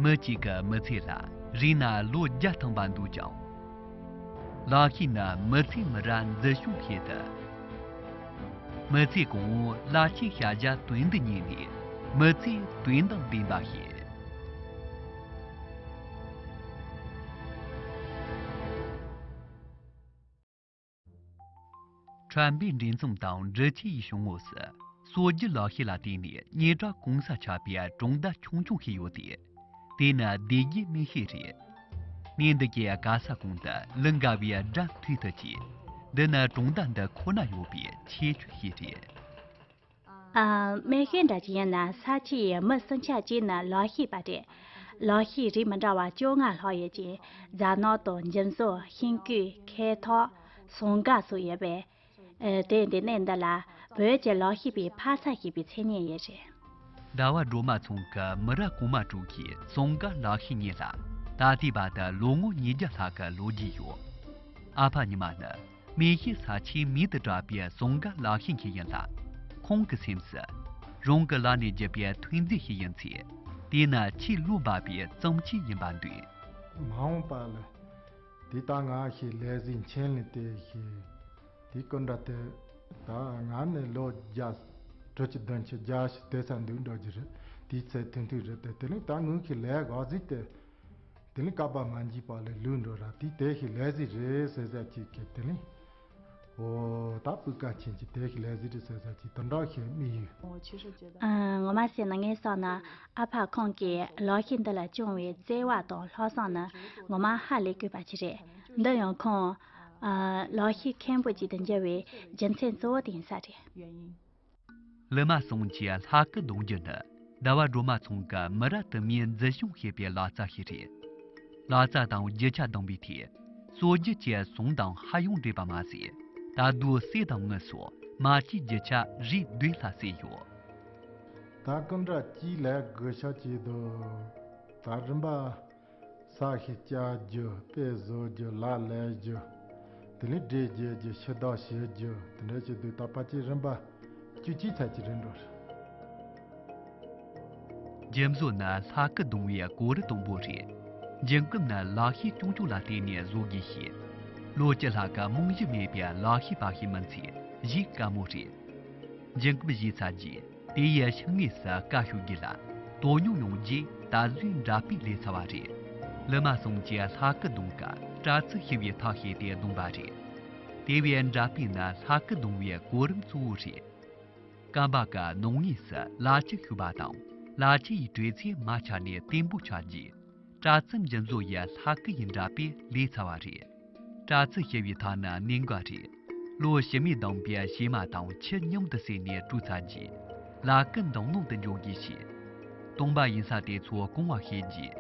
མི་གཅིག་གི་མི་ཚེ་ལ་རིང་ན་ལོ་བརྒྱ་ཐང་པ་འདུག་ཀྱང། ལག་ཤེས་ནི་མི་ཚེ་མི་ར་འཛི་ཤོག་ཤེས་ཏེ། མི་ཚེ་གོང་འོག་བླ་ཆེན་ཤ་བཞག་དོན་འདི་ཉིད་ནི་མི་ཚེའི་དོན་དང་ལྡན་པ་ཞིག། ཁྲོན་པའི་འབྲེལ་མཚམས་དང་འབྲི་ཆུའི་གཞུང་ངོགས་སུ་སྲོལ་རྒྱུན་ལག་ཤེས་ལ་བརྟེན་ནས་རྙེད་གྲྭ་གོང་ས་ཆགས་པའི་གྲོང་བརྡལ་ཆུང་ཆུང་ཞིག་ཡོད་དེ། དེ་ནི་སྡེ་དགེའི་སྨི་ཤེད་རེད། གནས་འདི་གའི་ག་ས་གོང་དུ་ལི་འགའ་བའི་སྒྲ་མཐུད་དུ་བྱས། འདི་ནི་གྲོང་བརྡལ་འདི་ཁོ་ན་ཡོད་པའི་ཁྱད་ཆོས་ཤིག་རེད། མེ་ཤེལ་འདྲ་ཅི་ཡིན་ན་ས་ཆུ་ཡི་མི་སྲིན་ཆ་གཅིག་ནི་ལག་ཤེས་པ་རེད། ལག་ཤེས་རིགས་མི་འདྲ་བ་བཅོ་ལྔ་ལྷག་ཡོད་ཅིང་རྫ་ནག་དང་འཇིམ་བཟོ་ཤིང་བརྐོས་ཁེ་ཐོག་ཟོང་དགའ་སོགས་ཡོད་པས། དེ་འདི་གནས་འདི་ལ་བོད་ཀྱི་ལག་ཤེས་པའི་འཕར་ཚ་ཞེས་པའི་མཚན་སྙན་ཡོད་རེད། ཟླ་བ་སྒྲོལ་མ་ཚང་གི་མི་རབས་གོང་མ་དྲུག་གི་ཟོང་དགའ་ལག་ཤེས་གཉིས་ལ་ད་ལྟའི་བར་དུ་ལོ་ངོ་ཉིས་བརྒྱ་ལྷག་གི་ལོ་རྒྱུས་ཡོད། ཨ་ཕ་ཉི་མ་ནི། མེ་ཤི་ས་ཆའི་མི་དང་འདྲ་བའི་ཟུང་འགའ་ལག་ཤེས་མཁན་ཡིན་ལ། ཁོང་གི་སེམས་སུ། རང་གི་ལག་ནས་བརྒྱུད་པའི་ཐོན་རྫས་ཤིག་ཡིན་ཚེ། དེ་ནི་ཆེས་གླུ་འབར་བའི་རྩོམ་ཆས་ཡིན་པར་འདོད། མ་འོངས་པ་ལ་དེ་ལྟ་ང་ཞིག་ལས་གཟི་མཆན་ལས་དེ་ཞིག་དེ་སྐུ་འདྲ་དེ་ད་ང་ནི་ལོ་བརྒྱ། དྲུག་ཅུ་བདུན་ཅུ་བརྒྱ་ཞིག་དེ་སར་འདུག་འགྲོ་རྒྱུ་རེད་དེའི་ཚེ་ཐུང་ཐུང་རེད་དེ་དེ་ནི་ད་ངུ་ཤི་ལས་ག་གཟིགས་དེ། དེ་ལས་བསྐལ་པ་མ་འཇིག་པ་ལས་ལུས་འགྲོ་རབས་དེའི་དལ་གྱི་ལས་ཟིན་རེ་ཟད་ཟད་ཅིག་གི་དེ་ལས། ཧོ། ད་སྤུས་ཀ་ཆེན་གྱི་དལ་གྱི་ལས་ཟིན་རེ་ཟད་ཟད་ཅིག་དུ་འགྲོགས་ཤིང་དམིགས་ཡུལ། ངོ་མ་བཤད་ན་ངའི་སྲོག་ནི་ཨ་ཕ་ཁོང་གི་ལོགས་ཤིག་འདི་ལ་བཅུང་བའི་བརྩེ་བ་དང་ལྷག་བསམ་ནི་ངོ་མ་ཧ་ལས་གུས་པ་ཅིག་རེད། འདི་ཡང་ཁོང། ལོགས་ཤིག་མཁན་པོ་ཅིག་ཏུ་འགྱུར་བའི་རྒྱུ་མཚན་གཙོ་བོ་དེ་ཡིན་ས་རེད། ལི་མ་སོང་གྱི་ལྷ་སྐུ་གདུང་རྒྱུ་ནི་ཟླ་བ་སྒྲོལ་མ་ཚང་གི་མི་རབས་དུ་མའི་འཛིན་སྐྱོང་བྱེད་པའི་ལག་རྩལ་ཞིག་རེད། ལག་རྩལ་དང་རྒྱུ་ཆ་བདམས་པའི་ཐད་སྲོལ་རྒྱུན་བཅས་ཟུང་དང་ཧ་ཡང་འདྲེས་པ་མ་ཟད་ད་དུང་གསེར་དང་དངུལ་སོགས་མ་སྐྱེས་རྒྱུ་ཆ་རིགས་བསྡུས་ལྷག་བསད་ཡོད། ད་ཀུན་དགའ་སྐྱིད་ལས་བགོས་ཤག་བྱས་འདུག་ད་རིམ་པ། ས་གཞི་བཅའ་རྒྱུ་དཔེ་བཟོ་རྒྱུ་ལག་ལས་རྒྱུ། དེ་ལས་འབྲས་རྒྱས་རྒྱུ་ཕྱི་ལྡོག་བྱེད་རྒྱུ་དེ་འདྲ་བྱེད་དུས་ད་བར་གྱི་རིམ་པ་བཅུ་གཅིག་ཆ་གཅིག་རེད་འགྲོ་རེད། འཇིམ་བཟོ་ན་ལྷ་སྐུ་གདུང་བའི་གོ་རི་དང་པོ་རེད། འཇིམ་སྐུ་ནི་ལག་ཤེས་ཆུང་ཆུང་ལ་བརྟེན་ནས་བཟོ་དགོས་ཤིང། བློ་སྐྱེད་ལྷ་སྐུ་རྨང་གཞི་མེད་པའི་ལག་ཤེས་དཔའ་ཤེས་མིན་ཚེ་གཞིས་དཀའ་མོ་རེད། འཇིམ་སྐུ་བཞེས་ཚར་རྗེས། དེ་ཡི་ཕྱི་ངོས་སུ་བཀའ་ཤོག་བརྒྱུད་ལ་དོ་སྙོམས་ཡོང་རྗེས་ད་གཟོད་འདྲ་དཔེ་ལས་ཚར་བ་རེད། ལི་མ་ཟུང་གི་ལྷ་སྐུ་བརྡུང་སྐབས་པྲ་ཚིལ་ཞི་བའི་ཐག་བྱས་ཏེ་བརྡུང་པ་རེད། དེ་བས་འདྲ་དཔེ་ནི་ལྷ་སྐུ་བརྡུང་བའི་གོ་རིམ་གཙོ་བོ་རེད། སྐམ་པ་ག་ནོངས་ངོས་སུ་ལ་ལྕི་བཤུ་བ་དང་ལ་ལྕི་ཡི་དྲོད་ཚད་མ་ཆག་ནས་བརྟན་པོ་ཆགས་རྗེས། པྲ་ཚིལ་འཇིན་བཟོ་ཡི་ལྷ་སྐུ་ཡི་འདྲ་པའི་ལས་ཚར་བ་རེད། པྲ་ཚིལ་ཞེས་པའི་ཐང་ནི་གནས་འགའ་རེ། ལོ་ཕྱི་མའི་གདང་པའི་བྱེ་མ་དང་ཁྱི་མཉམ་དུ་བསྲེས་ནས་བཀྲུས་ཚར་རྗེས། ལྷ་སྐུ་མདང་ནང་དུ་འཇོག་དགོས་ཞེས། སྟོང་པ་ཡིན་ས་དེ་ཚོ་སྐོང་བ་ཤེས་རྗེས།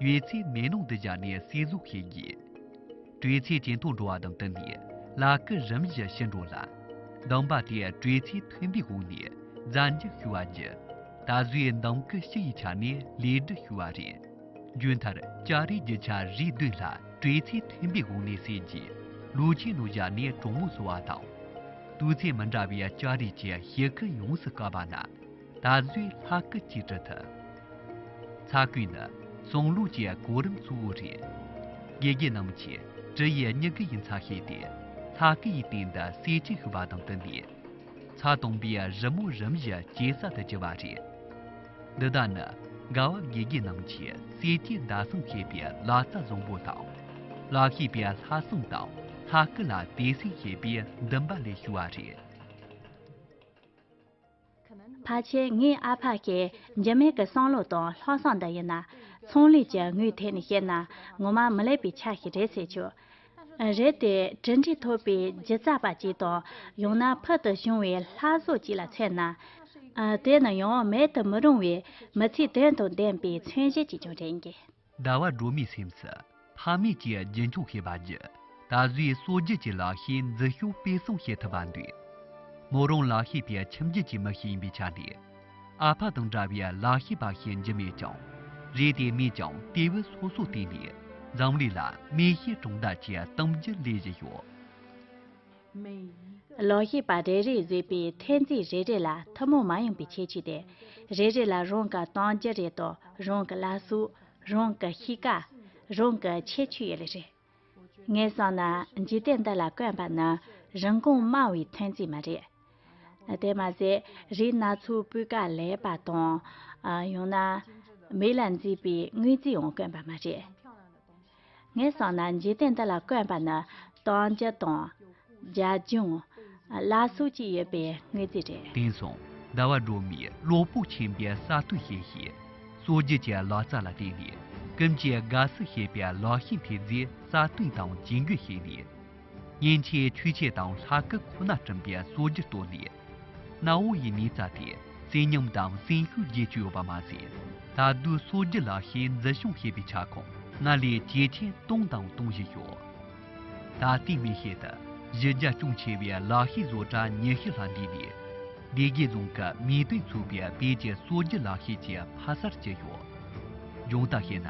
ཡོད་ཚད་མེད་ནང་དུ་བཞག་ནས་བསྲེས་བཟོ་ཤེས་དགོས། བྲེ་ཚིག་ཇེ་མཐོར་འགྲོ་བ་དང་བསྟུན་ནས་ལག་སྐུད་རིམ་བཞིན་ཞི་འགྲོ་ལ། མདངས་པ་དེས་བྲེ་ཚིག་མཐུན་པའི་སྒོ་ནས་བཙན་འཇུག་ཞུ་བ་བགྱི། ད་གཟོད་མདངས་སྐུད་ཕྱི་ཡི་ཆ་ནས་ལས་སྒྲུབ་ཞུ་བ་རེད། མཇུག་མཐར་ལྕགས་རིའི་རྒྱུ་ཆ་རིགས་བསྡུས་ལ་བྲེ་ཚིག་མཐུན་པའི་སྒོ་ནས་བསྲེས་རྗེས་ལུས་ཆེན་ནང་བཞག་ནས་གྲོག་མོ་བཟོ་བ་དང། དུས་ཚོད་མི་འདྲ་བའི་ལྕགས་རིགས་ཀྱི་ཞི་ཁུ་ཡོངས་སུ་བཀག་པ་ན། ད་གཟོད་ལྷ་སྐུ་གཅིག་སྒྲིལ་ཐུབ། ཚ་སྐུད་ནི་གསུང་ལུགས་ཀྱི་གོ་རིམ་གཙོ་བོ་རེད། དགེ་རྒན་རྣམས་ཀྱིས་གྲི་ཡི་སྙི་གུ་ཡིན་ཚ་ཤེས་ཏེ་ལྷ་སྐུ་ཡི་སྟེང་དུ་བསེ་གཅིག་ཤི་བ་དང་བསྟུན་པས། ཚ་དང་པོའི་རི་མོ་རིམ་བཞིན་ཇེ་གསལ་དུ་གྱུར་བ་རེད། འདི་དག་ནི་དགའ་བ་དགེ་རྒན་རྣམས་ཀྱིས་བསེ་སྐྱའི་ཟླ་གསུམ་ཤེས་པའི་ལ་རྩ་བཟང་པོ་དང། ལ་ཤེས་པའི་ལྷ་གསུམ་དང་ལྷ་སྐུ་ལ་དད་སེམས་ཤེས་པའི་འདུན་པ་ལས་བྱུང་བ་རེད། ཕར་ཆེར་ངའི་ཨ་ཕ་ཞེས་འཇིགས་མེད་ཀྱི་བསམ་བློ་དང་ལྷག་བསམ་འདི་ཡིན་ན། ཚོང་ལས་ཀྱི་ངོས་ཐད་ནས་བཤད་ན་ངོ་མ་མི་ལེགས་པའི་ཆ་ཞིག་རེད་ཟེར་ཆོག། རེད་དེ་གྲུ་འདྲིས་ཐོབ་པའི་སྒྱུ་རྩ་པ་ཅིག་དང་ཡང་ན་ཕུལ་དུ་བྱུང་བའི་ལྷ་བཟོ་ཅིག་ལ་མཚོན་ན། དེ་ནི་ཡང་མེད་དུ་མི་རུང་བའི་མི་ཚེའི་དོན་དང་ལྡན་པའི་མཚོན་བྱེད་ཅིག་ཀྱང་རེད། ཟླ་བ་སྒྲོལ་མའི་སེམས་སུ་ཕ་མེས་ཀྱི་རྒྱུན་འཁྱོངས་ཤེས་པ་བརྒྱུད་ད་གཟོད་སྲོལ་རྒྱུན་གྱི་ལག་ཤེས་འཛུལ་ཞུགས་སྤེལ་གསུམ་བྱེད་ཐུབ་པར་འདོད། མོ་རང་ལག་ཤེས་པའི་ཁྱིམ་རྒྱུད་ཀྱི་མི་ཞིག་ཡིན་པའི་ཆ་ནས། ཨ་ཕ་དང་འདྲ་བའི་ལག་ཤེས་པ་ཞིག་འཇིགས་མེད་ཀྱང་རེད་དེ་མོས་ཀྱང་སྐྱེས་བུ་སོ་སོར་བརྟེན་ནས་འཛམ་གླིང་ལ་མིག་ཤེལ་གྲོང་རྡལ་གྱི་གཏམ་རྒྱུད་ལས་བཞི་ཤོག་ལོག་ཤེས་པ་རེ་རེས་བཟོས་པའི་ཐེལ་ཙེ་རེ་རེ་ལ་ཐུན་མོང་མ་ཡིན་པའི་ཁྱད་ཆོས་ཏེ། རེ་རེ་ལ་རང་གི་གཏམ་རྒྱུད་རེ་དང་རང་གི་བླ་སྲོག། རང་གི་གཤིས་ཀ། རང་གི་ཁྱད་ཆོས་ཡོད་ལེ་རེད། ངས་བསམ་ན་འཇིག་རྟེན་འདི་ལ་དཀོན་པ་ནི་རིན་གོང་དམའ་བའི་ཐེལ་ཙེ་མ་རེད། དེར་མ་ཟད་རིགས་སྣ་ཚོགས་སྤུས་ཀ་ལེགས་པ་དང། ཡང་ན། མིག་ལ་མཛེས་པའི་དངོས་རྫས་འང་དཀོན་པ་མ་རེད། ངས་སོང་ན་འཇིག་རྟེན་འདི་ལ་དཀོན་པ་ནི་གཏོང་རྒྱུ་དང། རྒྱ་གཞུང། བླ་སྲོག་གཅིག་ཡོད་པའི་དངོས་རྫས་རེད། དེང་སང་ཟླ་བ་སྒྲོལ་མས་བློ་སྤོབས་ཆེན་པོས་གསར་གཏོད་བྱས་ཤིང། སྲོལ་རྒྱུན་གྱི་ལག་རྩལ་ལ་བརྟེན་ནས་ཀུན་གྱིས་དགའ་བསུ་བྱེད་པའི་ལག་ཤེས་འཕེལ་རྒྱས་སྲ་བརྟན་དང་ཇུས་འགོད་བྱས་ནས། སྙན་ཆའི་མཐུས་ཆས་དང་ལྷ་སྐུ་ཁོ་ན་བྲིམས་པའི་སྲོལ་རྒྱུན་བཏོད་ནས། གནའ་བོ་ཡི་མིས་བཙལ་ཏེ་བཙན་གཉོམ་དང་བཙན་ཤུལ་རྒྱས་བཅོས་ཡོད་པ་མ་ཟད། ད་དུས་སྲོལ་རྒྱུན་ལ་ཤའི་འཛུལ་ཞུགས་བྱེད་པའི་ཁྱབ་ཁོངས་སྔར་ལས་ཇེ་ཆེར་གཏོང་དང་གཏོང་བཞིན་ཡོད། ད་ལྟའི་མི་ཤེལ་དུ་གཞི་རྒྱ་ཅུང་ཆེ་བའི་ལག་ཤེས་བཟོ་གྲྭ་ཉི་ཤུ་ལྷག་འདུས་ནས། སྡེ་དགེ་རྫོང་གི་མིས་སྤོས་ཚུགས་པའི་དཔལ་གྱི་སྲོལ་རྒྱུན་ལག་ཤེས་ཀྱི་ཕ་སར་གྱུར་ཡོད། སྦྱོང་བརྡར་བྱས་ན།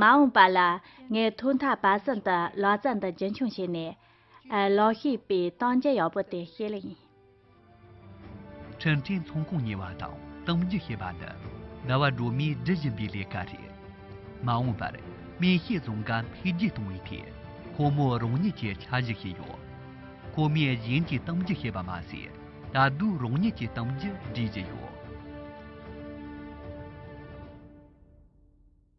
མ་འོངས་པ་ལ་ངས་ཐོག་མཐའ་བར་གསུམ་དུ་ལག་རྩལ་འདི་རྒྱུན་འཁྱོངས་བྱས་ནས། ལག་ཤེས་པའི་གཏམ་རྒྱུད་ཡག་པོ་དེ་བཤད་ལེ། འཕྲིན་ཕྲན་ཚོང་ཁང་གཉེར་བ་དང་གཏམ་རྒྱུད་བཤད་པ་ནི་ཟླ་བ་སྒྲོལ་མས་སྒྲུབ་བཞིན་པའི་ལས་ཀ་རེད། མ་འོངས་པར་སྨན་དཔྱད་རྫོང་འགའ་འཕེལ་རྒྱས་གཏོང་བའི་ཐད་ཁོ་མོ་རང་ཉིད་ཀྱིས་འཆར་གཞི་བཞེས་ཡོད། ཁོ་མོས་གཞན་གྱི་གཏམ་རྒྱུད་བཤད་པ་མ་ཟད་ད་དུང་རང་ཉིད་ཀྱི་གཏམ་རྒྱུད་འབྲི་བཞིན་ཡོད།